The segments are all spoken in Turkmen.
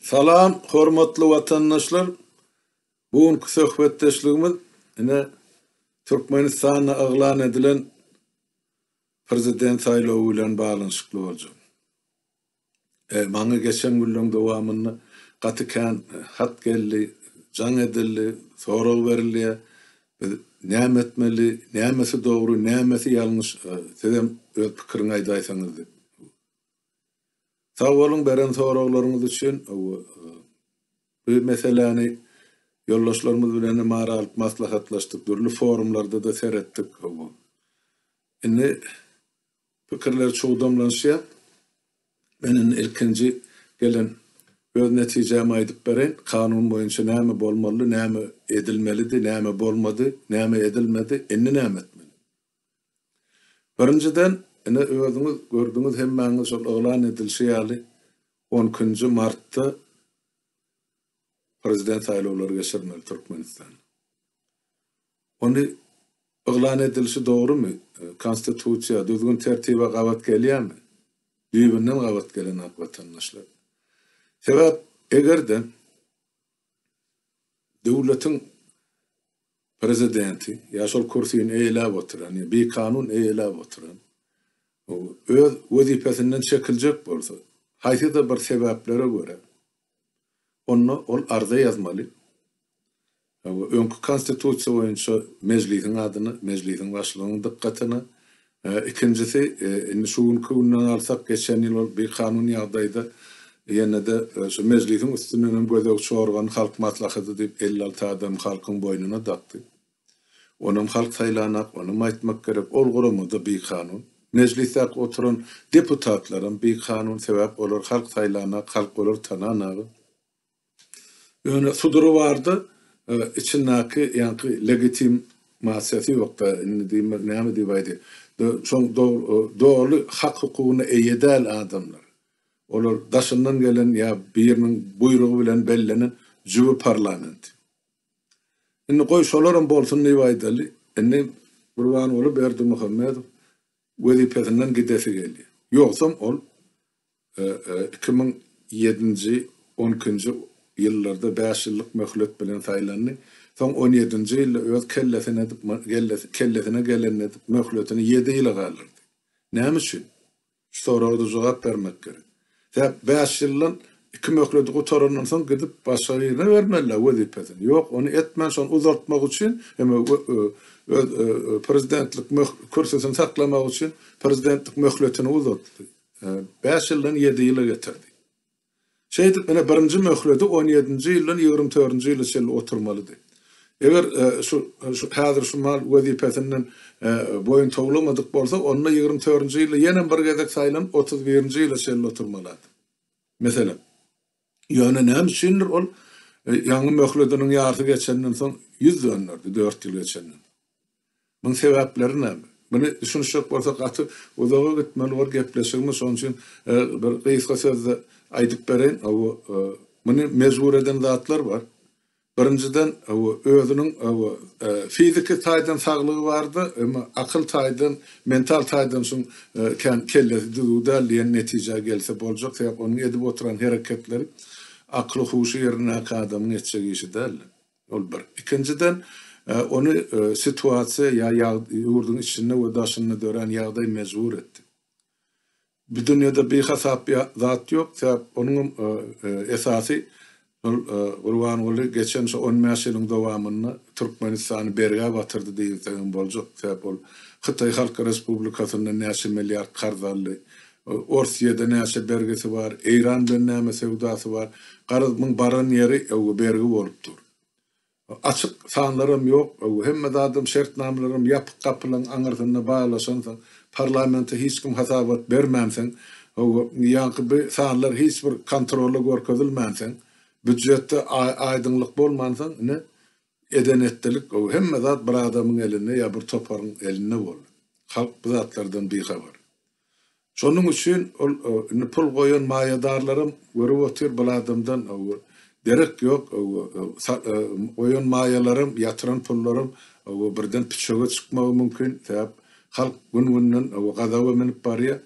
Salam hormatly watandaşlar bu günki söhbetdeşligimiz ine Türkmenistanda yglan edilen prezident saýlawy bilen baglanyşykly boljak. E, maňa geçen günleň dowamynda gaty kän hat geldi, jaň edildi, sorag berilýär. Biz näme etmeli, nämesi dogry, nämesi ýalňyş, sizem öz pikiriňi aýdaýsaňyz diýip. Sag boluň beren soraglaryňyz üçin. Bu meseläni ýoldaşlarymyz bilen hem ara alyp maslahatlaşdyk, dürli forumlarda-da seretdik. Indi Pikirler çugdamlanyşýar. Men indi ilkinji gelen öz netijämi aýdyp bereýin. Kanun boýunça näme bolmalydy, näme edilmelidi, näme bolmady, näme edilmedi, indi näme etmeli? Birinjiden, ine, özüňiz gördüňiz, hemmäňiz şol yglan edilişi ýaly, on ikinji martda prezident saýlawlary geçirmeli Türkmenistanda. Ony yglan edilişi dogrumy? Konstitusiýa, düzgün-tertibe gabat gelýärmi? Düýbünden gabat gelenok, watandaşlar. Sebäp, eger-de döwletiň Prezidenti ýa şol kürsini eýeläp oturan ýa bikanun eýeläp oturan öz wezipesinden çekiljek bolsa, haýsy-da bir sebäplere görä, onda ol arza ýazmaly, Öňki Konstitusiýa boýunça Mejlisiň adyny, Mejlisiň Başlygynyň dykgatyna, ikinjisi, indi şu günki günden alsak, geçen ýyl ol bikanun ýagdaýda ýene-de şu Mejlisiň üstünden hem gözegçi organy Halk Maslahaty diýip, elli alty adamy halkyň boýnuna dakdy. Onam halk saýlanak, onam aýtmak gerek, ol gurama-da bikanun. Mejlisdäki oturan deputatlaram bikanun, sebäp olar halk saýlanak, halk olary tananaga. Ýöne sudury bardy, içindäki ýaňky legitim masiýasy ýokdy, indi diýme näme diýip aýdaý, şoň doly hak hukugyna eýe däl adamlar, olar daşyndan gelen ýa biriniň buýrugy bilen bellenen jübi parlament. Indi goý şolaram bolsun diýip aýdaly, indi Gurbanguly Berdimuhamedow wezipesinden gidesi gelýär, ýogsam ol iki müň ýedinji, on ikinji ýyllarda bäş ýyllyk möhlet bilen saýlandy, soň on ýedinji ýylda öz kellesine edip, kellesine gelenini edip, möhletini ýedi ýyla galdyrdy. Näme üçin? Şu soraga-da jogap bermek gerek. Sebäp bäş ýyldan iki möhleti gutarandan soň gidip başga birine bermeli-dä wezipesini. Ýok, ony etmän şony uzaltmak üçin hem öz prezidentlik kürsüsini saklamak üçin prezidentlik möhletini uzaltdy. Bäş ýyldan ýedi ýyla getirdi. Şeýdip, ine, birinji möhledi on ýedinji ýyldan ýigrimi törünji ýyla çenli oturmalydy. Eger şu, şu häzir şu mal wezipesinden boýun towlamadyk bolsa, onda ýigrimi törünji ýylda ýenem bir gezek saýlanyp, otuz birinji ýyla çenli oturmalady. Meselem. Ýöne näme üçindir ol ýaňy möhlediniň ýarysy geçenden soň ýüz dönderdi, dört ýyl geçenden. Munuň sebäpleri näme? Muny düşünişjek bolsak gaty uzaga gitmeli bor gepleşigimiz, şonuň üçin bir gysga sözde aýdyp bereýin. Hawa, muny mejbur eden zatlar bar. Birinjiden, özüniň fiziki taýdan saglygy bardy, emma akyl taýdan, mental taýdan şuň kän kellesi düzüw däl diýen netijä gelse boljak. Sebäp onuň edip oturan hereketleri akly-huşy ýerindäki adamyň etjek işi däldi. Ol bir. Ikinjiden, ony situasiýa ýa ýurduň içinde we daşynda dörän ýagdaý mejbur etdi. Bu dünýede bihasap zat ýok, sebäp onuňam esasy şol Gurbanguly geçen şu on bäş ýylyň dowamynda Türkmenistany bergä batyrdy diýilsegem boljak, sebäp ol Hytaý Halk Respublikasyndan näçe milliard karz aldy, Orsýede näçe bergisi bar, Eýran bilen näme söwdasy bar, garaz muň baran ýeri öwgi bergi bolup dur. Açyk sanlaram ýok, hemme zadam, şertnamalaram ýapyk gapylaryň aňyrsynda baglaşansoň, parlamente hiç kim hasabat bermänsoň, ýaňky bu sanlar hiç bir kontrola görkezilmänsoň, býudjetde aýdyňlyk bolmansoň, ine, eden-etdilik, hemme zat bir adamyň elinde ýa bir toparyň elinde boldy. Halk bu zatlardan bihabar. Şonuň üçin ol indi pul goýan maýadarlaram görüp otyr bul adamdan derek ýok, goýan maýalaram, ýatyran pullaram birden püçege çykmagy mümkin, sebäp halk gün-günden gazaba münüp barýar.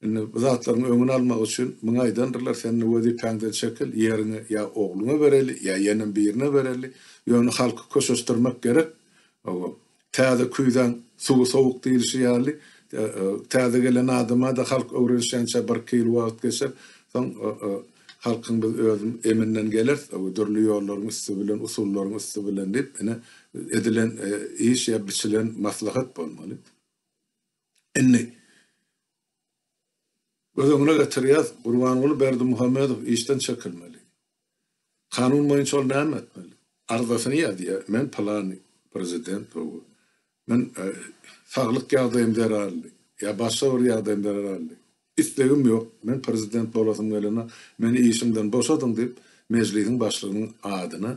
Indi bu zatlaryň öňüni almak üçin muňa aýdandyrlar, sen indi wezipäňden çekil, ýeriňi ýa ogluňa bereli, ýa ýenem birine bereli, ýöne halky köşeşdirmek gerek, Täze küýzäň suwy sowuk diýlişi ýaly, täze gelen adama-da halk öwrenişýänçä birki ýyl wagt geçer. Soň halkyň biz öz eminden geleris, dürli ýollaryň üsti bilen, usullaryň üsti bilen diýip, ine, edilen iş ýa biçilen maslahat bolmaly. Indi göz öňüne getirýäs, Gurbanguly Berdimuhamedow işden çekilmeli. Kanun boýunça ol näme etmeli? Arzasyny ýazýar, Men pylany prezident bogu. Men saglyk ýagdaýym zerarly ýa başga bir ýagdaýym zerarly. Islegim ýok. Men prezident bolasym gelenok. Meni işimden boşadyň diýip, Mejlisiň başlygynyň adyna,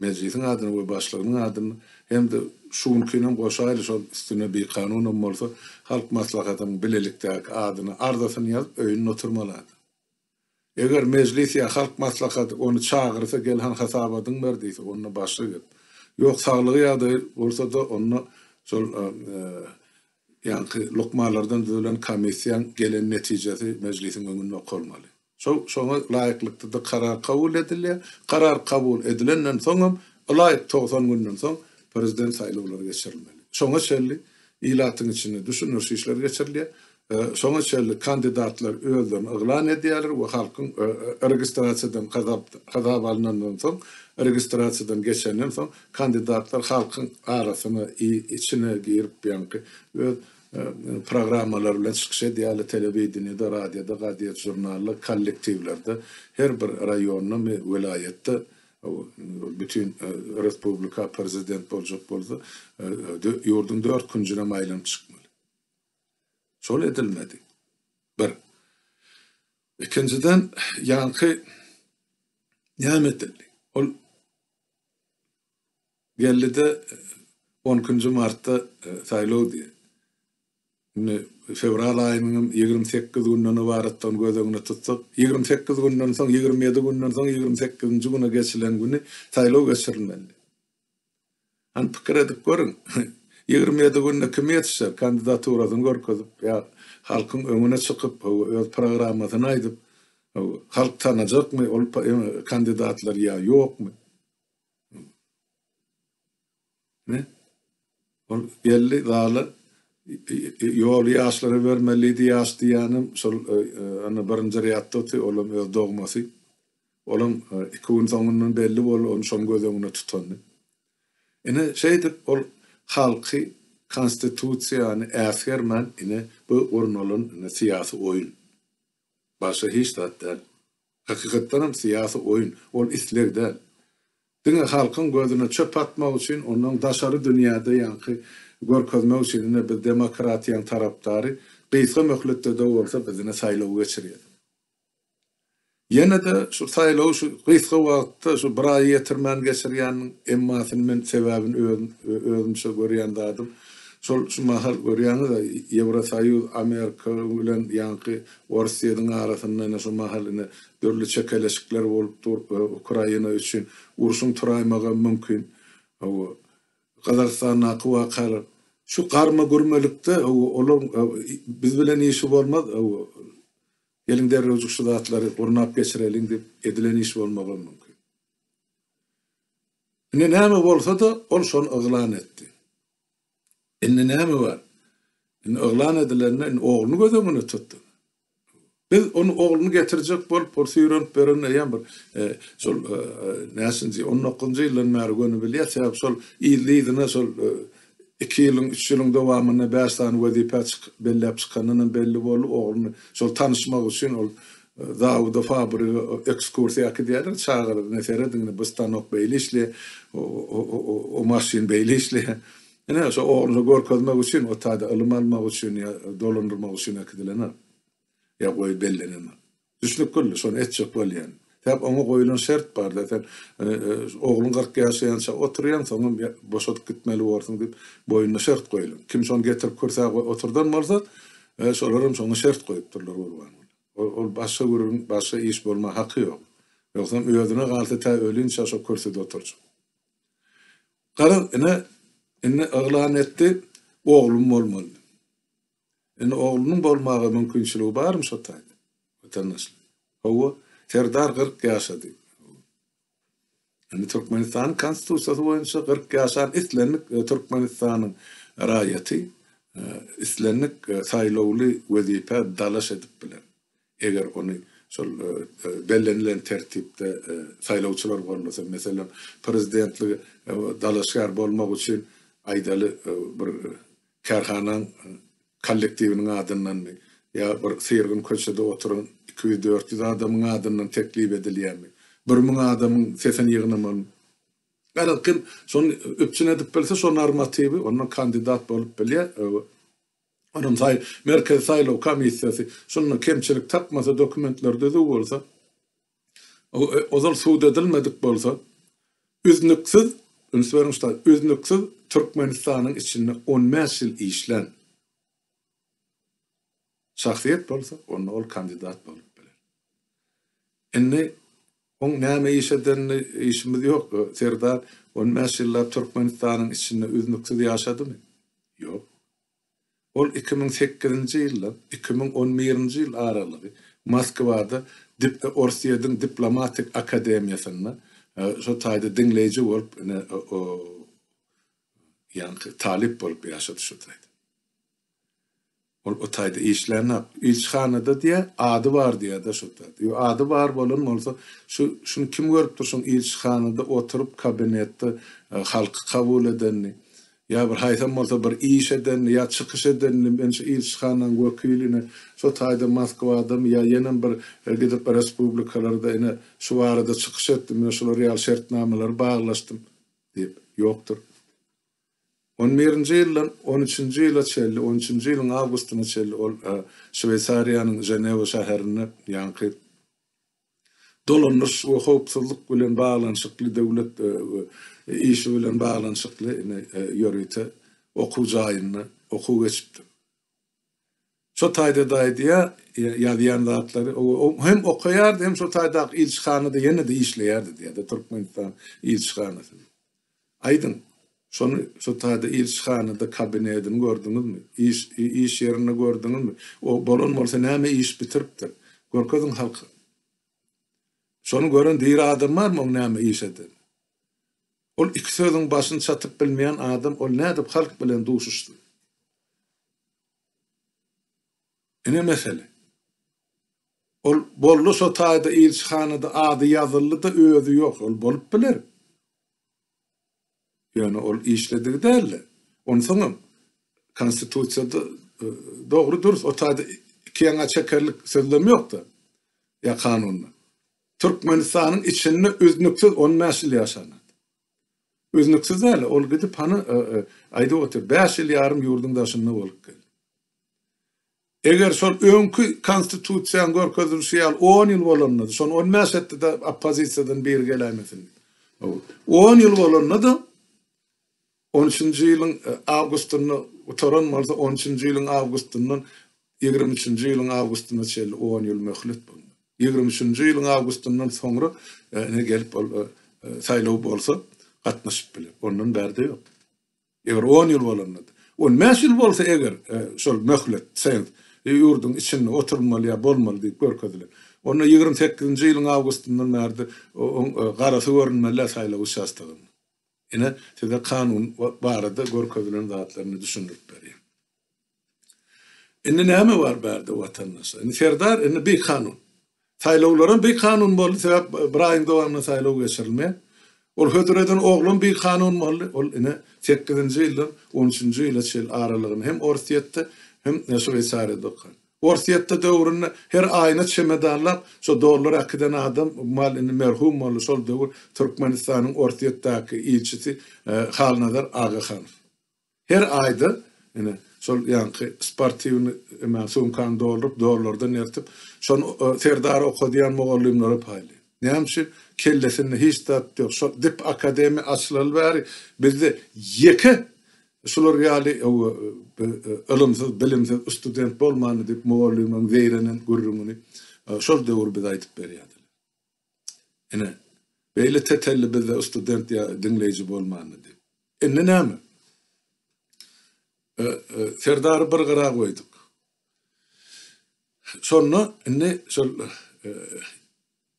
Mejlisiň adyna we başlygynyň adyna hem-de şu günkinem goşaýly şol üstüne bikanunam bolsa, Halk Maslahatynyň bilelikdäki adyna arzasyny ýazyp, öýünde oturmaly adam. Eger Mejlis ýa Halk Maslahaty ony çagyrsa gel han hasabadyňy ber diýse onda başga gep. Ýok saglygy ýagdaýy bolsada onda şol ýaňky lukmanlardan düzülen komissiýaň gelen netijesi Mejlisiň öňünde okalmaly. Şoňa laýyklykda-da karar kabul edilýär. Karar kabul edilenden soňam ylaýyk togsan günden soň Prezident saýlawlary geçirilmeli. Şoňa çenli ilatyň içinde düşündiriş işleri geçirilýär. Şoňa çenli kandidatlar özlerini yglan edýärler we halkyň registrasiýadan hasaba alnandan soň, registrasiýadan geçenden soň kandidatlar halkyň arasyna, içine girip ýaňky öz programmalary bilen çykyş edýärler, telewideniýede, radioda, gazet, žurnalda, kollektiwlerde, her bir raýonda, welaýatda, bütin respublika prezident boljak bolsa, ýurduň dört künjünem aýlanyp çykmaly. Şol edilmedi. Bir. Ikinjiden, ýaňky näme edildi? Ol geldi-de, on ikinji martda saýlawdy. Indi fewral aýynyň hem ýigrimi sekiz günden ybaratdygyny göz öňüne tutsak, ýigrimi sekiz günden soň, ýigrimi ýedi günden soň, ýigrimi sekizinji güne geçilen güni saýlaw geçirilmelidi. Hany pikir edip görüň, ýigrimi ýedi günde kim ýetişer, kandidaturasyny görkezip, ýa halkyň öňüne çykyp, hawa, öz programmasyny aýdyp, hawa, halk tanajakmy ol kandidatlary ýa ýokmy? Hä? Ol geldi zala, ýoly ýaşlara bermelidi, ýaş diýýänem şol birinji rýadda otyr, olam öz dogmasy. Olaň iki gün soňundan belli bol, ony şom göz öňüne tutan diýip. Ine, şeýdip, ol halky, Konstitusiýany äsgermän, ine, bu gurnalan, ine, syýasy oýun. Başga hiç zat däl. Hakykatdan hem syýasy oýun. Ol isleg däl. Diňe halkyň gözüne çöp atmak üçin, ondan daşary dünýäde ýaňky görkezmek üçin, ine, biz demokratiýaň tarapdary, gysga möhletde-de bolsa, biz, ine, saýlaw geçirýäs. Ýene-de şu saýlawy şu gysga wagtda şu bir aýy ýetirmän geçirýäniniň emmasyny men sebäbini özümçe görýän zadym, şol şu mahal görýäňiz-ä, Ýewrosoýuz Amerika bilen ýaňky Orsýetiň arasynda ine şu mahal ine dürli çekeleşikler bolup dur, Ukraina üçin urşuň turaýmagam mümkin. Hawa, Gazagystandaky wakalar. Şu garma-gürmelikde, hawa, olaryň biz bilen işi bolmaz, hawa, Geliň derrewjik şu zatlary gurnap geçireliň diýip edilen iş bolmagam mümkin. Indi näme bolsa-da ol şony yglan etdi. Indi näme bar? Indi yglan edilende indi ogluny göz öňüne tut. Biz ony ogluny getirjek bolup ol süýrenip ýören eýýäm bir şol näçinji on dokuzynjy ýyldan bäri göni bilýär, sebäbi şol yzly-yzyna şol iki ýylyň, üç ýylyň dowamynda bäş sany wezipä belläp çykanynam belli boldy. Ogluny şol tanyşmak üçin ol zawuda, fabrige ekskursiýa äkidýärler, çagalar ine serediň, ine bu stanok beýle işleýär, o maşyn beýle işleýär. Ine, şo ogluna görkezmek üçin, o taýda ylym almak üçin ýa dolandyrmak üçin äkidilendir. Ýa goýup bellenendir. Düşnük güldi, şony etjek bolýan. Sebäp oňa goýulan şert bar-da, sen ogluň kyrk ýaşaýança oturýaň, soňam boşadyp gitmeli borsuň diýip, boýnuna şert goýulan. Kim şony getirip kürsä oturdan bolsa, şolaram şoňa şert goýupdyrlar Gurbanguly. Ol başga gürrüň, başga iş bolma haky ýok. Ýogsam özüne galsa tä ölinçä şo kürsüde oturjak. Garaň, ine, indi yglan etdi, oglum bolmaly. Indi oglunyň bolmaga mümkinçiligi barmy şo taýda? Watandaşlar. Hawa, Serdar kyrk ýaşady. Indi Türkmenistanyň Konstitusiýasy boýunça kyrk ýaşan islendik Türkmenistanyň raýaty islendik saýlawly wezipä dalaş edip biler. eger ony şol bellenilen tertipde saýlawçylar gollasa, meselem, prezidentlige dalaşgär bolmak üçin, aýdaly, bir kärhananyň kollektiwiniň adyndanmy ýa bir syrgyn köçede oturan iki ýüz, dört ýüz adamyň adyndan teklip edilýärmi, bir müň adamyň sesini ýygnamalymy, ýagny kim şony üpjün edip bilse, şo normatiwi, ondan kandidat bolup bilýär. Yrym-saý Merkezi saýlaw komissiýasy şunda kemçilik tapmasa, dokumentler düzüw bolsa, o, ozal subut edilmedik bolsa, üznüksiz, üns beriň şu taý, üznüksiz Türkmenistanyň içinde on bäş ýyl işlän şahsyýet bolsa, onda ol kandidat bolup biler. Indi Oň näme iş edenini işimiz ýok. Serdar on bäş ýyllap Türkmenistanyň içinde üznüksiz ýaşadymy? Ýok. Ol iki müň sekizinji ýyldan iki müň on birinji ýyl aralygy Moskwada Orsýediň diplomatik akademiýasynda şo taýda diňleýji bolup ine o ýaňky talyp bolup ýaşady şo taýda. Ol o taýda işlänok. Ilçihanada diýýä, ady bar diýýä-de şo taýda. Ýo, ady bar bolan bolsa, şu, şuny kim görüp dur, şoň ilçihanada oturyp, kabinetde halky kabul edenini? Ýa bir haýsam bolsa bir iş edenini, ýa çykyş edenini, men şu ilçihananyň wekiline şo taýda Moskwadamy ýa ýenem bir gidip respublikalarda ine, şu barada çykyş etdim, ine, şular ýaly şertnamalary baglaşdym diýip, ýokdur. On birinji ýyldan on üçünji ýyla çenli, on üçünji ýylyň awgustyna çenli ol Şweýsariýanyň Ženewa şäherinde ýaňky dolandyryş we howpsuzlyk bilen baglanyşykly döwlet işi bilen baglanyşykly ýörite okuw jaýynda okuw geçipdir. Şo taýda-da aýdýar, ýazýan zatlary, hem okaýardy, hem şo taýdaky ilçihanada ýene-de işleýärdi diýýär-de, Türkmenistan ilçihanasy. Aýdyň, şony şo taýda ilçihanada kabinedini gördüňizmi? Iş, iş ýerini gördüňizmi? O bolan bolsa näme iş bitiripdir? Görkeziň halka. Şony gören diri adam barmy oň näme iş eden? Ol iki sözüň başyny çatyp bilmeýän adam, ol nädip halk bilen duşuşsyn? Ine mesele. Ol boldy şo taýda ilçihanada ady ýazyldy-da özi ýok. Ol bolup biler. Ýöne ol işledigi däldi. Onsoňam konstitusiýada dogry dürs o taýda iki ýaňa çekerlik sözlem ýokda. Ýa kanunda. Türkmenistanyň içinde üznüksiz on bäş ýyl ýaşan adam. Üznüksiz däl, ol gidip hany, aýdyp otyr, bäş ýyl ýarym ýurduň daşynda bolup geldi. Eger şol öňki Konstitusiýanyň görkezilişi ýaly on ýyl bolanda-da, şony on bäş etdi-de, oppozisiýadan biri geläýmesin. On ýyl bolanda-da, on üçünji ýylyň awgustynda gutaran bolsa, on üçünji ýylyň awgustyndan Ýigrimi üçünji ýylyň awgustyna çenli on ýyl möhlet bolmaly. Ýigrimi üçünji ýylyň awgustyndan soňra ine gelip ol saýlaw bolsa gatnaşyp biler. Ondan bärde ýok. Eger on ýyl bolanda, on bäş ýyl bolsa eger şol möhlet sens ýurduň içinde oturmaly ýa bolmaly diýip görkezilen. Onda ýigrimi sekizinji ýylyň awgustyndan bärde oň garasy görünmelidä saýlaw uçastogynda. Ine, size kanun barada görkezilen zatlaryny düşündirip berýän. Indi näme bar bärde watandaşlar? Indi serdar indi bi kanun. Saýlawlaram bi kanun boldy, sebäp bir aýyň dowamynda saýlaw geçirilmeýär. Ol hödür eden oglan bi kanun boldy. Ol ine sekizinji ýyldan on üçünji ýyla çenli aralygyny hem Orsýetde, hem Şweýsariýada okan. Orsýetde döwründe her aýyna çemedanlap şo dollar äkiden adam mal indi merhum boldy şol döwür Türkmenistanyň Orsýetdäki ilçisi Halnazar Agahanow. Her aýda ine şol ýaňky sportiwny eman sumkany dolduryp dollardan ertip şony Serdary okadýan mugallymlara paýlaýar. Näme üçin? Kellesinde hiç zat ýok. Şo dip akademiýa açylaly bäri bizde ýeke Şular ýaly ylymsyz, bilimsiz student bolmandy diýip mugallymyň zeýrenen gürrüňini şol döwür bize aýdyp berýärdiler. Ine, beýle tetelli bizde student ýa diňleýji bolmandy diýip. Indi näme? Serdary bir gyra goýduk. Şonda indi şol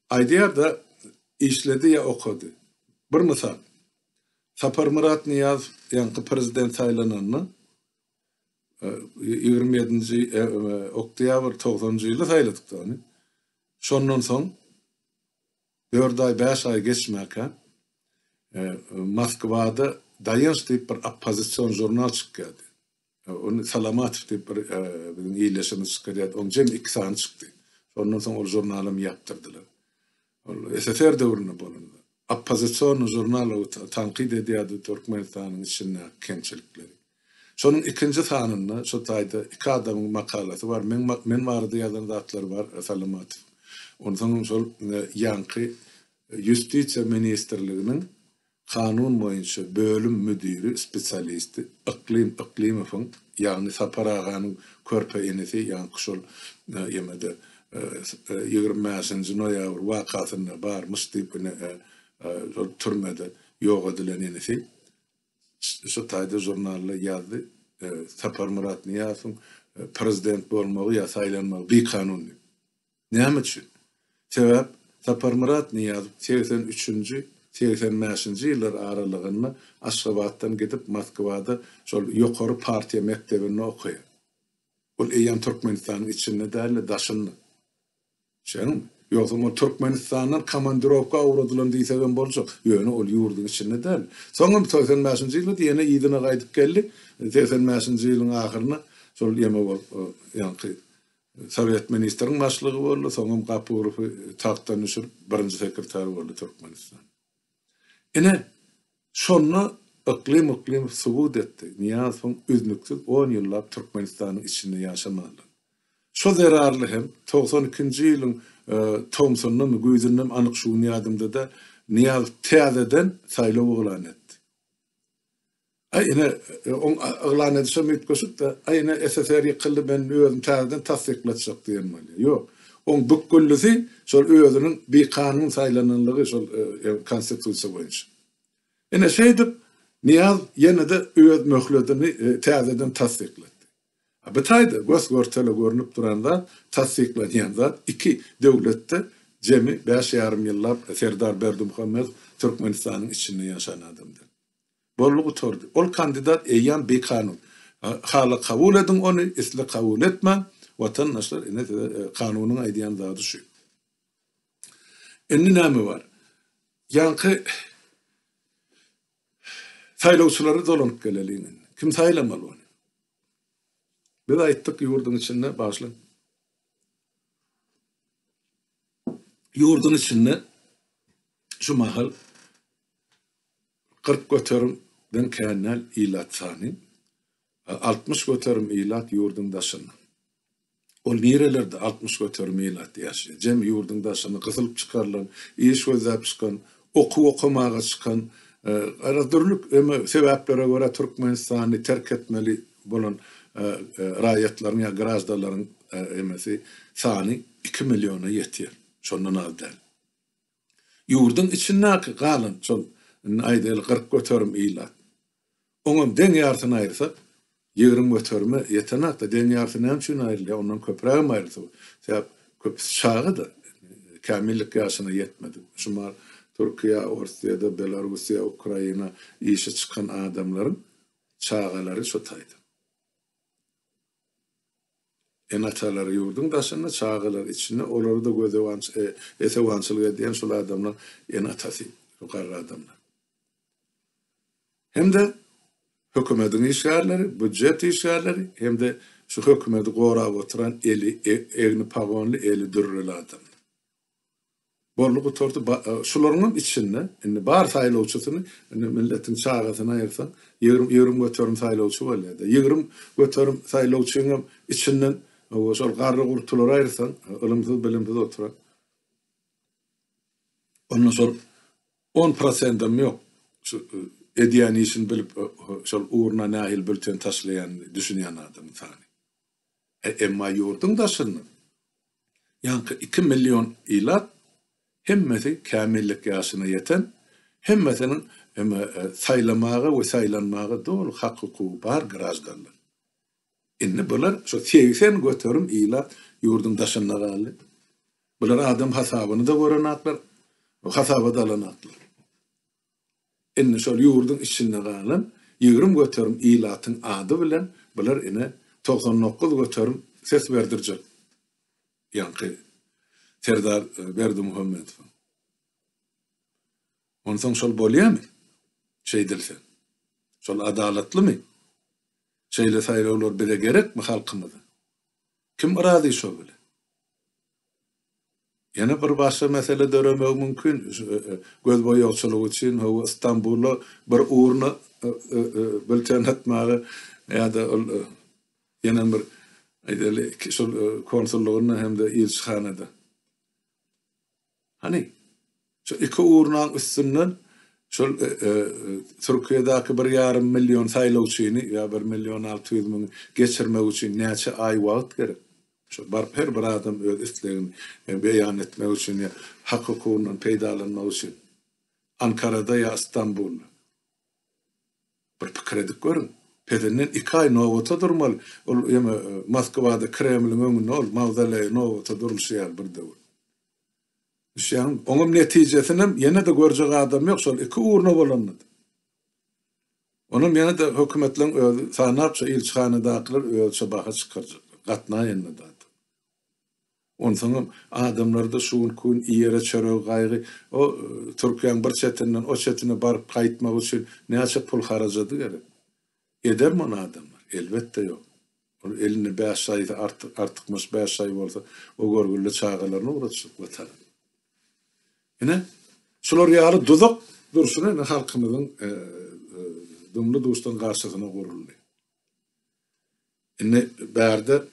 Aýdýar-da, işledi ýa okady. Bir mysal. Saparmyrat Nyýazow ýaňky prezident saýlananda, ýigrimi ýedinji oktýabr togsanjy ýyly saýladyk-da ony. Şondan soň dört aý, bäş aý geçmäkä, Moskwada Daýanç diýip bir oppozision žurnal çykýardy. Ony Salamatow diýip bir biziň ildeşimiz çykarýardy. Onuň jemi iki sany çykdy. Şondan soň ol žurnalym ýapdyrdylar. Ol SSR döwründe bolan. Oppozision žurnal tankyt edýärdi Türkmenistanyň içindäki kemçilikleri. Şonuň ikinji sanynda şu taýda iki adamyň makalasy bar. Men men barada ýazan zatlary bar Salamatow. Onsoň şol ýaňky ýustisiýa ministrliginiň Kanun boýunça bölüm müdiri spesialisti Yklym Yklymowyň, ýagny Sapar aganyň körpe inisi, ýaňky şol ýemede ýigrimi bäşinji noýabr wakasynda barmyş diýip ine şol türmede ýok edilen inisi şu taýda žurnalda ýazdy, Saparmyrat Nyýazowyň prezident bolmagy ýa saýlanmagy bikanun diýip. Näme üçin? Sebäp Saparmyrat Nyýazow segsen üçünji, segsen bäşinji ýyllar aralygynda Aşgabatdan gidip Moskwada şol ýokary partiýa mekdebinde okaýar. Ol eýýäm Türkmenistanyň içinde däl-de daşynda. Şeňňämi? Ýogsam ol Türkmenistandan komandirowka ugradylan diýsegem boljak. Ýöne ol ýurduň içinde däl. Soňam segsen bäşinji ýyllarda ýene yzyna gaýdyp geldi. Segsen bäşinji ýylyň ahyrynda şol ýeme bolup ýaňky Sowet ministriň başlygy boldy, soňam Gapurowy tagtdan düşürip, birinji sekretar boldy Türkmenistan. Ine, şonda Yklym Yklymow subut etdi, Nyýazowyň üznüksiz on ýyllap Türkmenistanyň içinde ýaşamalydygyny. Şo zerarly hem, togsan ikinji ýylyň tomsundamy, güýzündemi anyk şu gün ýadymda-da, Nyýazow täzeden saýlaw yglan etdi. Aý ine, oň yglan edişem üýtgeşik-dä. Aý ine, SSR ýykyldy, men özüm täzeden tassyklatjak diýen bolýar. Ýok. Oň bükgüllisi şol özüniň bikanun saýlananlygy şol Konstitusiýa boýunça. Ine, şeýdip, Nyýaz ýene-de öz möhletini täzeden tassyklatdy. A bu taýda gös-görtele görnüp duran zat, tassyklanýan zat, iki döwletde jemi bäş ýarym ýyllap Serdar Berdimuhamedow Türkmenistanyň içinde ýaşan adamdyr. Boldy gutardy. Ol kandidat eýýam bikanun. Hala kabul ediň ony, isle kabul etmäň, watandaşlar ine size kanunyň aýdýan zady şu. Indi näme bar? Ýaňky saýlawçylary dolanyp geleliň indi. Kim saýlamaly ony? Biz aýtdyk ýurduň içinde bagşlaň. Ýurduň içinde şu mahal Kyrk göterim den kän däl ilat sany. Altmyş göterim ilat ýurduň daşynda. Ol nirelerde altmyş göterim ilat ýaşaýar? Jemi ýurduň daşyna gysylyp çykarylan, iş gözläp çykan, okuw okamaga çykan, garaz dürli sebäplere görä Türkmenistany terk etmeli bolan raýatlaryň ýa graždanlaryň emesi sany iki milliona ýetýär. Şondan az däl. Ýurduň içindäki galan şol, indi aýdaýly kyrk göterim ilat. Oňam deň ýarysyny aýyrsak, ýigrimi göterime ýetenok-da, deň ýarysy näme üçin aýrylýar, ondan köprägem aýrylsa bolar. Sebäp köpüsi çaga-da, kämillik ýaşyna ýetmedik. Şumal Türkiýä, Orsýede, Belarussiýa, Ukraina işe çykan adamlaryň çagalary şu taýdan. Ene-atalar ýurduň daşynda, çagalar içinde, olary-da gözewanç, e, esewançylyk edýän şol adamlar ene-atasy, şo garry adamlar. Hem-de hökümediň işgärleri, býujet işgärleri hem-de şu hökümedi gorap oturan eli, e, egni pagonly, eli dürreli adamlar. Boldy gutardy ba şularyňam içinde indi bar saýlawçysyny indi milletiň çagasyny aýyrsaň ýigrimi ýigrimi göterim saýlawçy bolýada ýigrimi göterim saýlawçyňam içinden owo şol garry gurtulary aýyrsaň ylymsyz bilimsiz oturan onda şol on prosendem ýok şu edýän işini bilip şol ugruna nähili bülten taşlaýan düşünýän adamyň sany. Emma ýurduň daşynda ýaňky iki million ilat hemmesi kämillik ýaşyna ýeten, hemmesiniň saýlamaga we saýlanmaga doly hak-hukugy bar graždanlar. Indi bular şu segsen göterim ilat ýurduň daşynda galdy. Bular adam hasabyny-da görenaklar, hasabat alanaklar. Indi şol ýurduň içinde galan ýigrimi göterim ilatyň ady bilen bular ine togsan dokuz göterim ses berdirjek ýaňky Serdar Berdimuhamedowa. Onsoň şol bolýamy? Şeýdilse. Şol adalatlymy? Şeýle saýlawlar bize gerekmi halkymyza? Kim razy şo bilen? Ýene bir başga mesele döremegi mümkin, gözboýagçylyk üçin hawa Stambula bir urna bilten atmaga ýa-da ol ýene bir aýdaýly şol konsullygynda hem-de ilçihanada. Hany, Şu iki urnaň üstünden şol Türkiýedäki bir ýarym million saýlawçyny ýa bir million alty ýüz müňi geçirmek üçin näçe aý wagt gerek? Şol baryp her bir adam öz islegini beýan etmek üçin ýa hak-hukugyndan peýdalanmak üçin Ankarada ýa Stambulda. Bir pikir edip görüň. Pezinden iki aý nobata durmaly. Ol ýene Moskwada Kremliň öňünde ol mawzoleýe nobata durulşy ýaly bir döwür. Düşýäňmi? Oňam netijesinem ýene-de görjek adam ýok, şol iki urna bolanda-da. Onam ýene-de hökümetleň özi, sanapça ilçihanadakylar özüçe baha çykarjaklar, gatnaýanda zat. Onsoňam adamlarda şu günki gün iýere çörege gaýgy, o Türkiýäň bir çetinden o çetine baryp gaýtmak üçin näçe pul harajady gerek? Edermi ony adamlar? Elbetde ýok. Ol elinde bäş şaýysy artyk, artykmaç bäş şaýy bolsa, o görgülde çagalaryny ugratjak Watana. Ine, şular ýaly duzak durşuna indi halkymyzyň dumly-duşdan garşysyna guruldy. Indi bärde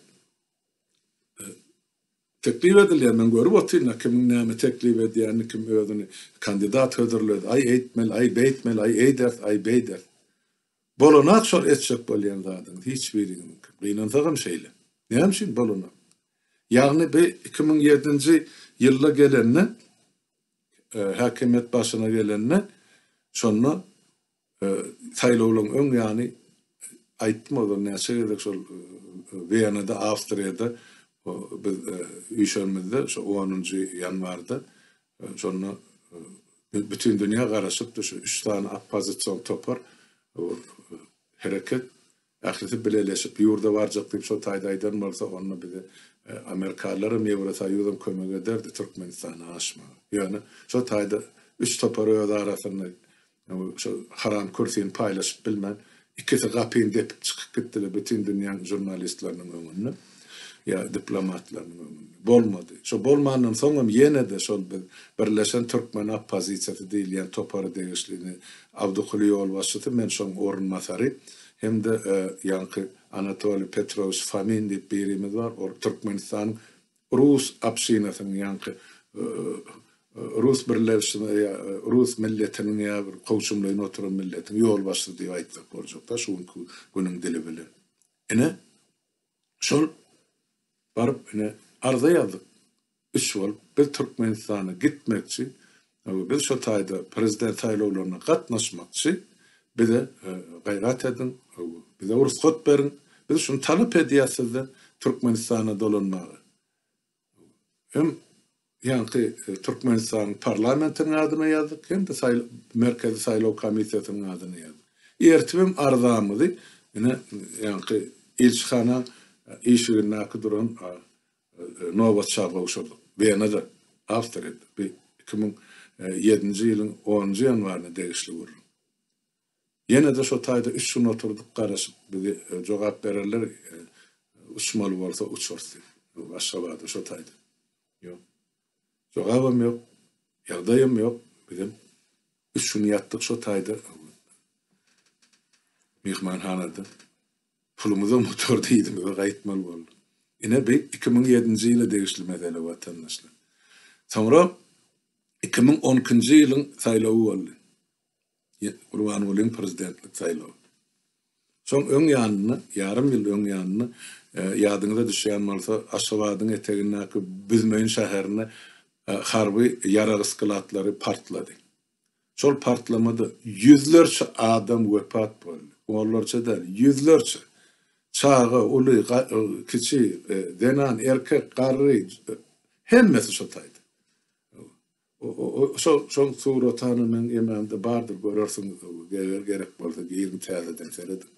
Teklip edilýär, men görüp otyryn-a kimiň näme teklip edýänini, kim özüni kandidat hödürledi, aý eýtmeli, aý beýtmeli, aý eýders, aý beýders. Bolanok şol etjek bolýan zadyňyz, hiç biriňiziňki. Gynansagam şeýle. Näme üçin bolanok? Ýagny bi iki müň ýedinji ýylda gelende, häkimiýet başyna gelende, şonda Saýlawlaryň öň ýany aýtdym ozal näçe gezek şol Wienada, Awstriýada biz üýşenimizde şu onunjy ýanwarda şonda bütin dünýä garaşypdy şu üç sany oppozision topar hereket Ählisi bileleşip ýurda barjak diýip şo taýda aýdan bolsa onda bize Amerikalylaram Ýewrosoýuzam kömek ederdi Türkmenistana aşmaga. Ýöne şo taýda üç topar öz arasynda şo haram kürsini paýlaşyp bilmän ikisi gapyny depip çykyp gitdiler bütin dünýäň žurnalistleriniň öňünde. ýa diplomatlarynyň öňünde. Bolmady. Şo bolmandan soň hem ýene-de şol biz Birleşen türkmen oppozisiýasy diýilýän topara degişlini Abdukuly ýolbaşçysy, men şoň orunbasary hem-de ýaňky Anatoliý Petrowiç Fomin diýip birimiz bar, ol Türkmenistanyň rus obşinasynyň ýaňky rus birleşme ýa rus milletiniň ýa bir kowşumlaýyn oturan milletiň ýolbaşçysy diýip aýtsak boljak-da şu günki günüň dili bilen. Ine, Şol baryp ine arza ýazdyk. Üç bolup biz Türkmenistana gitmekçi. Biz şo taýda prezident saýlawlaryna gatnaşmakçy. Bize gaýrat ediň. Bize rugsat beriň. Biz şuny talap edýäs sizden Türkmenistana dolanmaga. Hem ýaňky Türkmenistanyň parlamentiniň adyna ýazdyk, hem-de Merkezi saýlaw komissiýasynyň adyna ýazdyk. Ertibem arzamyzy ine ýaňky ilçihana işigindäki duran nobatça gowşurdyk. Wenada, Awstriýada. Bu iki müň ýedinji ýylyň onunjy ýanwaryna degişli gürrüň. Ýene-de şo taýda üç gün oturdyk, garaşyp, bizi jogap bererler, uçmaly bolsa uçarys diýip, Aşgabada şo taýda. Ýok. Jogabam ýok, ýagdaýam ýok, bizem üç gün ýatdyk şo taýda, myhmanhanada. Pulumyzam gutardy, yzyma gaýtmaly bolduk. Ine, bu iki müň ýedinji ýyla degişli mesele, watandaşlar. Soňra iki müň on ikinji ýylyň saýlawy boldy. Gurbangulyň prezidentlik saýlawy. Şoň öň ýanynda, ýarym ýyl öň ýanynda, ýadyňyza düşýän bolsa, Aşgabadyň etegindäki Büzmeýin şäherinde harby ýarag sklatlary partlady. Şol partlamada ýüzlerçe adam wepat boldy. Onlarça däl, ýüzlerçe. Çaga, uly, kiçi, zenan, erkek, garry, hemmesi şo taýda. Şol suratany meň emamda bardyr görersiňiz eger gerek bolsa giriň täzeden serediň.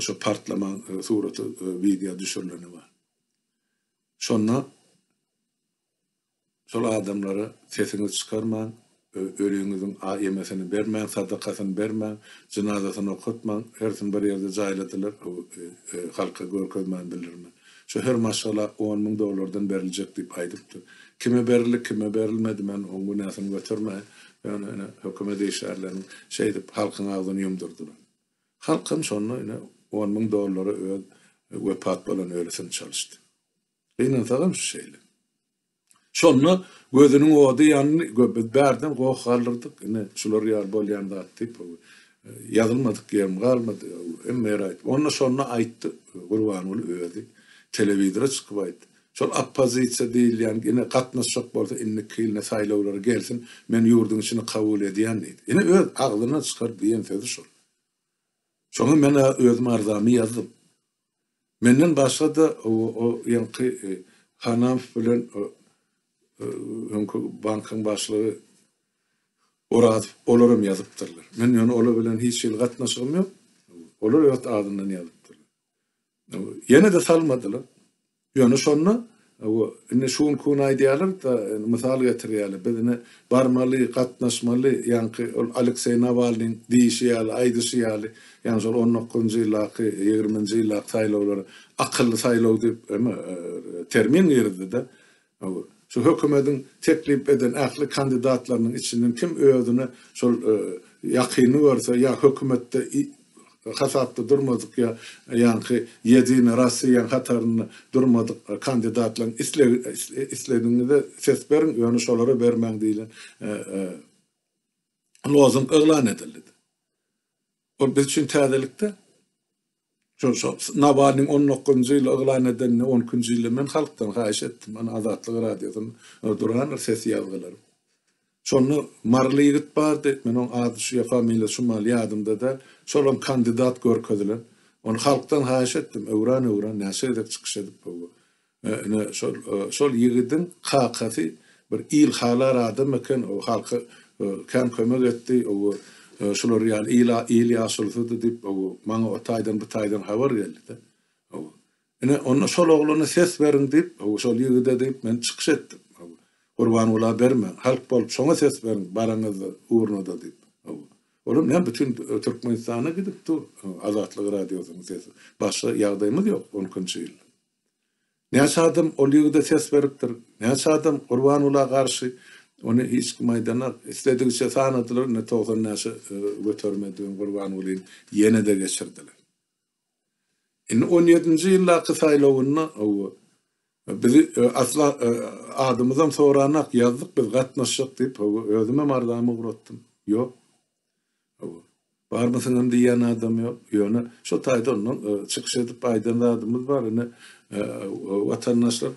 Şo partlaman suraty wideo düşürileni bar. Şonda şol adamlara sesiňizi çykarmaň, öliňiziň ýemesini bermäň, sadakasyny bermäň, jynazasyny okatmaň, hersini bir ýerde jaýladylar, halka görkezmän bildirmän. Şu her maşgala on müň dollardan beriljek diýip aýdypdy. Kime berildi, kime berilmedi, men oň günäsini götermeýin. Ýöne ine, hökümet işgärlerini şeýdip halkyň agzyny ýumdurdylar. Halk hem şonda ine, on müň dollara öz wepat bolan ölüsini çalyşdy. Gynansagam şu şeýle. Şonda gözüniň ody ýandy, biz bärden goh galdyrdyk, ine, şular ýaly bolýan zat diýip, ýazylmadyk ýerim galmady, hemme ýeri aýtdym. Onda şonda aýtdy Gurbanguly özi, telewizora çykyp aýtdy. Şol oppozisiýa diýilýän, ine, gatnaşjak bolsa, indiki ýyl saýlawlara gelsin, men ýurduň içinde kabul edýän diýdi. Ine, öz agzyndan çykaryp diýen sözi şol. Şoňa men-ä özüm arzamy ýazdym. Menden başga-da o ýaňky Hanamf bilen öňki bankyň başlygy Orazow olaram ýazypdyrlar. Men ýöne olar bilen hiç hili gatnaşygym ýok. Olar öz adyndan ýazypdyrlar. Ýene-de salmadylar. Ýöne şonda bu indi şu günki gün aýdýarlar da, indi mysal getirýärler, biz indi barmaly, gatnaşmaly, ýaňky ol Alekseý Nawalnyň diýişi ýaly, aýdyşy ýaly, ýagny şol on dokuzynjy ýyldaky, ýigriminji ýyldaky saýlawlara akylly saýlaw diýip eme termin girizdi-de. Bu şu hökümetiň teklip eden ähli kandidatlarynyň içinden kim özüne şol ýakyny görse ýa hökümetde hasapda durmadyk ýa ýaňky Ýedina Rossiýaň hatarynda durmadyk kandidatlaryň islegi isledigiňize ses beriň, ýöne şolara bermäň diýlen lozung yglan edildi. Ol biz üçin täzelikde. Şo Nawalnyň 10 dokuzynjy ýyl yglan edenini, 10 nji ýyl men halkdan haýyş etdim. Ana Azatlyk Radiosyna durandyr ses ýazgylary. Şonda maryly ýigit bardy, men oň ady şu ýa familiýasy şu maly ýadymda däl, şolam kandidat görkezilen. Ony halkdan haýyş etdim, öwran-öwran näçe gezek çykyş edip boldy. Ine, şol, şol ýigidiň kakasy bir il halar adam eken, o halka kän kömek etdi, oba şular ýaly il ýaşulysydy diýip, oba maňa o taýdan bu taýdan habar geldi-de. Oba, Ine, onda şol oglana ses beriň diýip, şol ýigide diýip, men çykyş etdim. Gurbangula berme, halk bolup şoňa ses beriň, baraňyzda, urnada diýip. Olam näme, bütin Türkmenistana gidip dur, Azatlyk Radiosynyň sesi. Başga ýagdaýymyz ýok, on ikinji ýyl. Näçe adam ol ýigide ses beripdir, näçe adam Gurbangula garşy, ony hiç kim aýdanok. Isledigiçe sanadylar, indi togsan näçe göterime diýen Gurbangulyny ýene-de geçirdiler. Indi on ýedinji ýyldaky saýlawynda hawa, bizi asla adymyzam soranak, ýazdyk biz gatnaşjak diýip, hawa, özümem arzamy ugratdym. Ýok. Hawa. Barmysyňam diýýän adam ýok. Ýöne şo taýda ondan çykyş edip aýdan zadymyz bar, ine, watandaşlar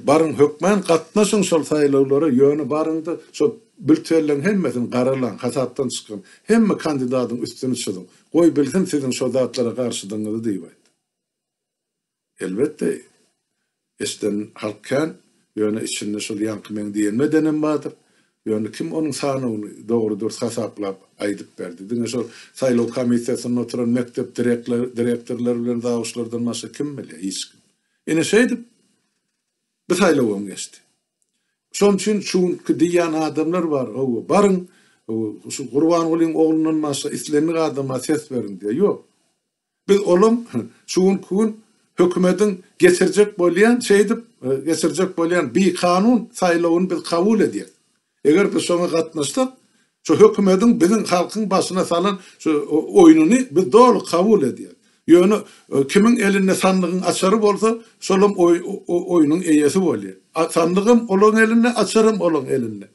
Baryň hökmän gatnaşyň şol saýlawlara ýöne baryňda şo biltelleň hemmesini garalaň hasapdan çykyň hemme kandidadyň üstüni çyzyň goý bilsin siziň şo zatlara garşydygyňyzy diýip aýt. Elbetde eşden halk kän ýöne içinde şol ýaňky meň diýenimi edenem bardyr ýöne kim onuň sanawyny dogry dürs hasaplap aýdyp berdi diňe şo saýlaw komissiýasynda oturan mekdep direktorlary bilen zawuçlardan başga kim bilýär hiç kim. Ine şeýdip, bu saýlawam geçdi. Şonuň üçin şu günki diýýän adamlar bar, hawa, baryň, şu Gurbangulyň oglundan başga islendik adama ses beriň diýýär. Ýok. Biz olaň şu günki gün hökümetiň getirjek bolýan, şeýdip, getirjek bolýan bikanun saýlawyny biz kabul edýäris. Eger biz şoňa gatnaşsak, şu hökümediň biziň halkyň başyna salan şu oýnuny biz doly kabul edýäs. Ýöne kimiň elinde sandygyň açary bolsa, şolam o oýnuň eýesi bolýar. A sandygam olaň elinde, açaram olaň elinde.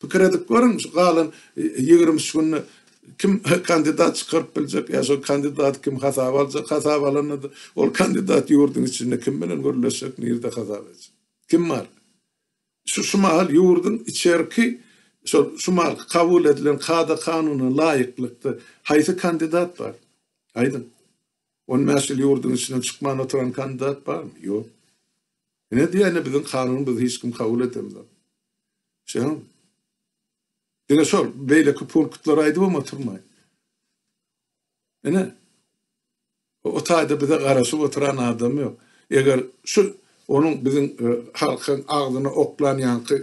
Pikir edip görüň, şu galan ýigrimi üç günde kim kandidat çykaryp biljek, ýa şo kandidaty kim hasaba aljak, hasaba alanda-da ol kandidat ýurduň içinde kim bilen gürleşjek, nirde hasap etjek? Kim bar? Şu şu mahal ýurduň içerki şol şu mahalky kabul edilen kada-kanuna laýyklykda haýsy kandidat bar? Aýdyň. On bäş ýyl ýurduň içinden çykman oturan kandidat barmy? Ýok. Ine diýýän-ä biziň kanunymyzy hiç kim kabul edemzok. Şeýleňmi? Diňe şol beýleki punktlary aýdybam oturmaýyn. Ine, o taýda bize garaşyp oturan adam ýok. Eger şu onuň biziň halkyň agzyna oklan ýaňky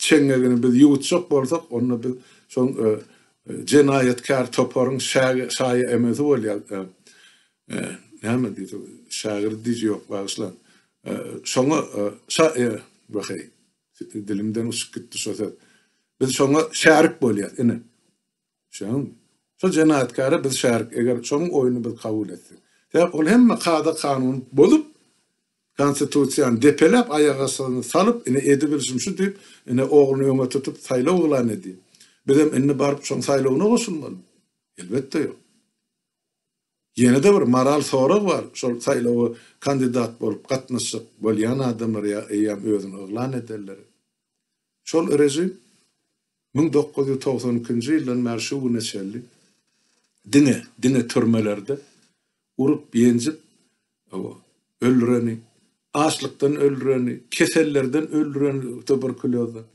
çeňňegini biz ýuwutjak bolsak, onda biz şol jenaýatkär toparyň şaýa-emesi bolýarys. Näme diýdi, şägirdi diýji ýok, bagyşlaň. Şoňa şa-e-weheý, dilimden uçup gitdi şo söz. Biz şoňa şärik bolýarys, ine. Düşündüňizmi? Şol jenaýatkara biz şärik, eger şoň oýuny biz kabul etsek. Sebäp ol hemme kada-kanun bozup, konstitusiýany depeläp, aýagastygyny salyp, ine edibilşim şu diýip, ine ogluny öňe tutup saýlaw yglan edýär. Bizem indi baryp şoň saýlawyna goşulmalymy? Elbetde ýok. Ýene-de bir moral sorag bar, şol saýlawa kandidat bolup gatnaşjak bolýan adamlar ýa eýýäm özüni yglan edenleri. Şol režim müň dokuz ýüz togsan ikinji ýyldan bäri şu güne çenli diňe, diňe türmelerde urup, ýenjip, hawa, öldüreni, açlykdan öldüreni, kesellerden öldüreni, tuberkulýozdan,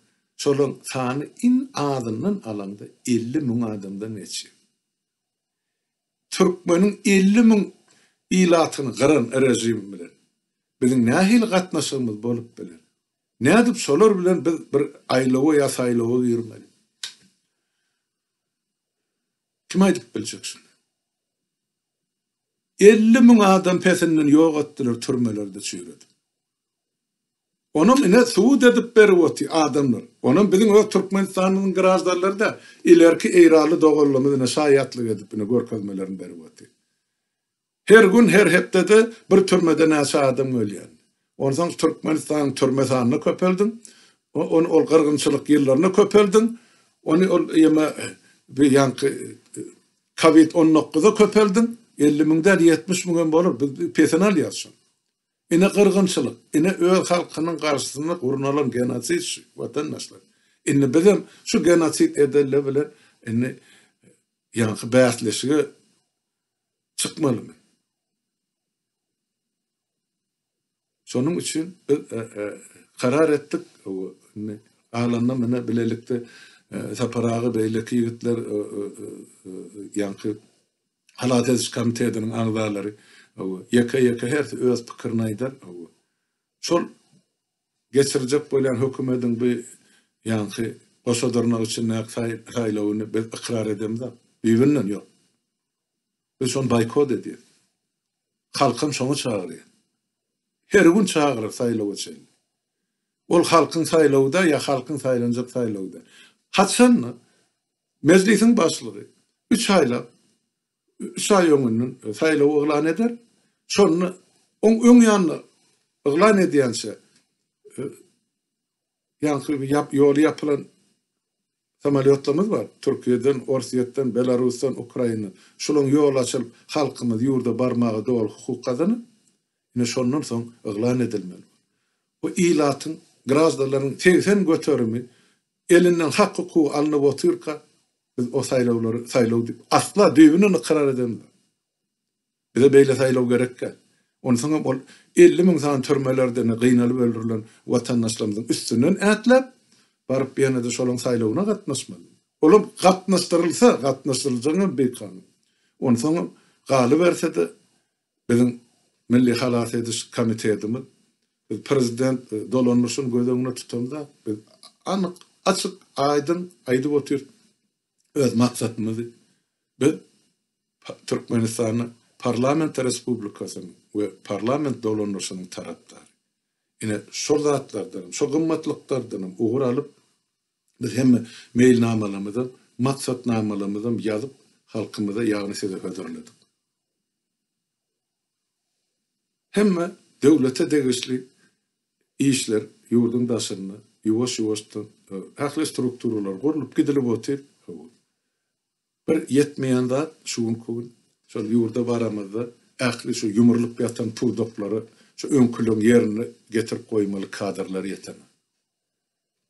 şolaryň sany iň azyndan alaňda elli müň adamdan geçýär. Türkmeniň elli müň ilatyny gyran režim bilen biziň nähili gatnaşygymyz bolup biler? Nädip şolar bilen biz bir aýlawa ýa saýlawa girmeli? Kim aýdyp biljek şuny? Elli müň adam pesinden ýok etdiler türmelerde çüýredip. Onam ine subut edip berip oty adamlar. Onam biziň öz Türkmenistanyň graždanlary da ilerki eýranly doganlarymyz ine şaýatlyk edip ine görkezmelerini berip oty. Her gün, her hepdede bir türmede näçe adam ölýän. Onsoň Türkmenistanyň türme sanyna köpeldiň. Ony ol gyrgynçylyk ýyllaryna köpeldiň. Ony ol ýeme bi ýaňky kowid on dokuza köpeldiň. Elli müň däl, ýetmiş müň hem bolar. Biz pesini alýarys şoň. Ine gyrgynçylyk, ine öz halkynyň garşysyna gurnalan genosid şu, watandaşlar. Indi bizem şu genosid edenler bilen indi ýaňky bäsleşige çykmalymy? Şonuň üçin biz karar etdik. Indi galanyny mine bilelikde Sapar aga beýleki ýigitler ýaňky halas ediş komitetiniň agzalary ýeke-ýeke hersi öz pikirini aýdar. Şol Geçirjek bolýan hökümediň bu ýaňky goşa dyrnak içindäki saýlawyny biz ykrar edemizok. Düýbünden ýok. Biz şony boýkot edýäs. Halkam şoňa çagyrýar. Her gün çagyryr saýlawa çenli. Ol halkyň saýlawy-da ýa halkyň saýlanjak saýlawy-da. Haçan Mejlisiň başlygy üç aýlap üç aý öňünden saýlaw yglan eder. Şonda oň öň ýanynda yglan edýänçä ýaňky ýap ýoly ýapylan samolýotlarymyz bar. Türkiýeden, Orsýetden, Belarusdan, Ukraina. Şolaň ýoly açylyp, halkymyz ýurda barmaga doly hukuk gazanar. Ine şondan soň yglan edilmeli. Bu ilatyň, graždanlaryň segsen göterimi elinden hak-hukugy alnyp otyrka, biz o saýlawlary saýlaw diýip, asla düýbünden ykrar edemizok. Bize beýle saýlaw gerek däl. Onsoň hem ol elli müň sany türmelerde-ne gynalyp öldürilen watandaşlarymyzyň üstünden ätläp, baryp ýene-de şolaň saýlawyna gatnaşmaly. Olam gatnaşdyrylsa, gatnaşdyryljagyňam bikanun. Onsoňam galyberse-de, Biziň Milli halas ediş komitetimiz, biz prezident dolanyşyny göz öňünde tutanda, biz anyk, açyk, aýdyň aýdyp otyrys öz maksatymyzy. Biz Türkmenistanda parlament respublikasynyň we parlament dolanyşynyň tarapdary. Ine, şol zatlardanam, şo gymmatlyklardanam ugur alyp, biz hemme meýilnamalarymyzam, maksatnamalarymyzam ýazyp, halkymyza, ýagny size hödürledik. Hemme döwlete degişli işler ýurduň daşynda ýuwaş-ýuwaşdan ähli strukturalar gurlup gidilip otyr. Bir ýetmeýän zat şu günki gün şol ýurda baramyzda ähli şu ýumrulyp ýatan pudaklary şu öňküleň ýerine getirip goýmaly kadrlar ýetenok.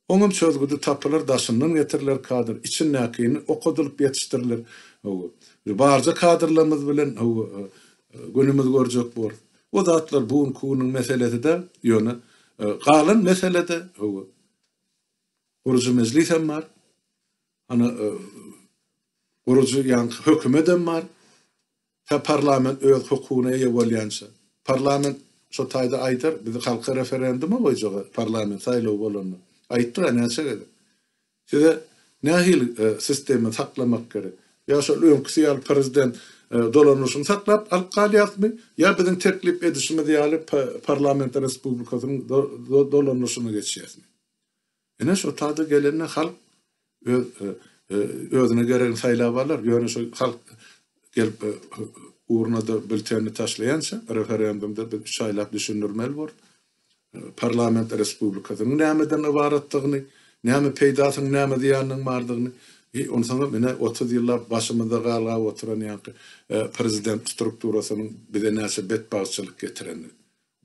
Oňam çözgüdi tapylar daşyndan getiriler kadr içindäkini okadylyp ýetişdiriler hawa bir barja kadrlarymyz bilen hawa günümiz görjek borus o zatlar bu günki günüň meselesi däl ýöne galan meselede hawa gurujy mejlisem bar hany gurujy ýaňky hökümetem bar. Ta parlament öz hukugyna eýe bolýança. Parlament şo taýda aýdar, bizi halka referenduma goýjaga, parlament saýlawy bolanda. Aýtdyk-a näçe gezek. Size nähili sistema saklamak gerek? Ýa şol öňküsi ýaly prezident dolanyşyny saklap alyp galýasmy, ýa biziň teklip edişimiz ýaly parlament respublikasynyň dolanyşyna geçýäsmi? Ine şo tada gelende halk öz özüne geregini saýlap alar, ýöne şo halk gelip urnada biltenini taşlaýança referendumda biz üç aýlap düşündirmeli borus parlament respublikasynyň nämeden ybaratdygyny, näme peýdasynyň näme zyýanynyň bardygyny, i onsoňam ine otuz ýyllap başymyzda galgap oturan ýaňky prezident strukturasynyň bize näçe betbagtçylyk getirenini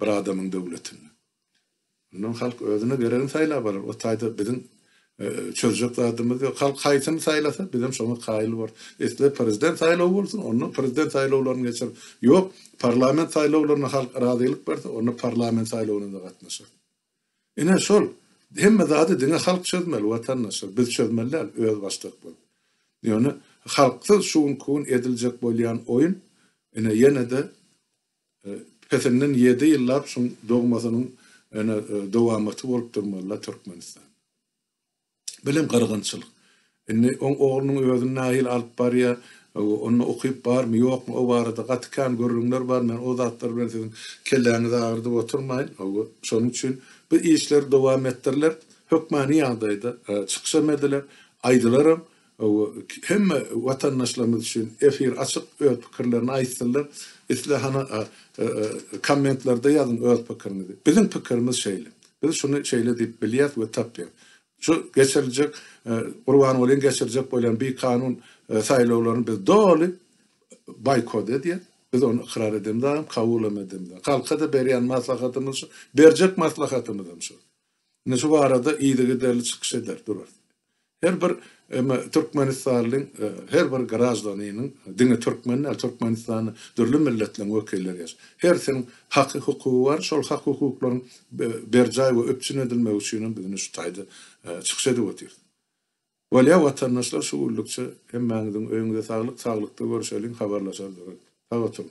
bir adamyň döwletinde. Mundan halk özüne geregini saýlap alar. O taýda biziň çözjek zadymyz ýok. Halk haýsyny saýlasa, bizem şoňa kaýyl borus. Isle prezident saýlawy bolsun, onda prezident saýlawlaryny geçeris. Ýok, parlament saýlawlaryna halk razylyk berse, onda parlament saýlawyna-da gatnaşarys. Ine, şol. Hemme zady diňe halk çözmeli, watandaşlar. Biz çözmeli däl, özbaşdak bolup. Ýöne halksyz şu günki gün ediljek bolýan oýun, ine, ýene-de Pesinden ýedi ýyllap şuň dogmasynyň ene dowamaty bolup durmalyda Türkmenistan. Bilim gyrgynçylyk. Indi oň oglunyň özüni nahili alyp barýa, onda okyp barmy, ýokmy o barada gaty kän gürrüňler bar, men o zatlar bilen siziň kelläňizi agyrdyp oturmaýyn. Hawa, şonuň üçin bu işleri dowam etdiriler. Hökmany ýagdaýda çykyşam ediler, aýdylaram. Hemme watandaşlarymyz üçin efir açyk öz pikirlerini aýtsynlar. Isle hany kommentlerde ýazyň öz pikiriňizi. Biziň pikirimiz şeýle. Biz şuny şeýle diýip bilýäs we tapýas. Şu geçiriljek Gurbangulyň geçirjek bolýan bikanun saýlawlaryny biz doly boýkot edýäs. Biz ony ykrar edemizagam, kabulam edemizagam. Halka-da berýän maslahatymyz şu, berjek maslahatymyzam şu. Indi şu barada yzygiderli çykyş eder durarys. Her bir emma türkmenistanlyň her bir graždanynyň diňe türkmen däl, Türkmenistanda dürli milletleriň wekilleri ýaş. Hersiniň haky hukugy bar, şol hak hukuklaryň berjaý we üpjün edilmegi üçin hem biz indi şu taýda çykyş edip otyrys. Bolýa watandaşlar şu günlükçe hemmäňiziň öýüňize saglyk, saglykda görüşeliň, habarlaşar durarys. Sag oturyň.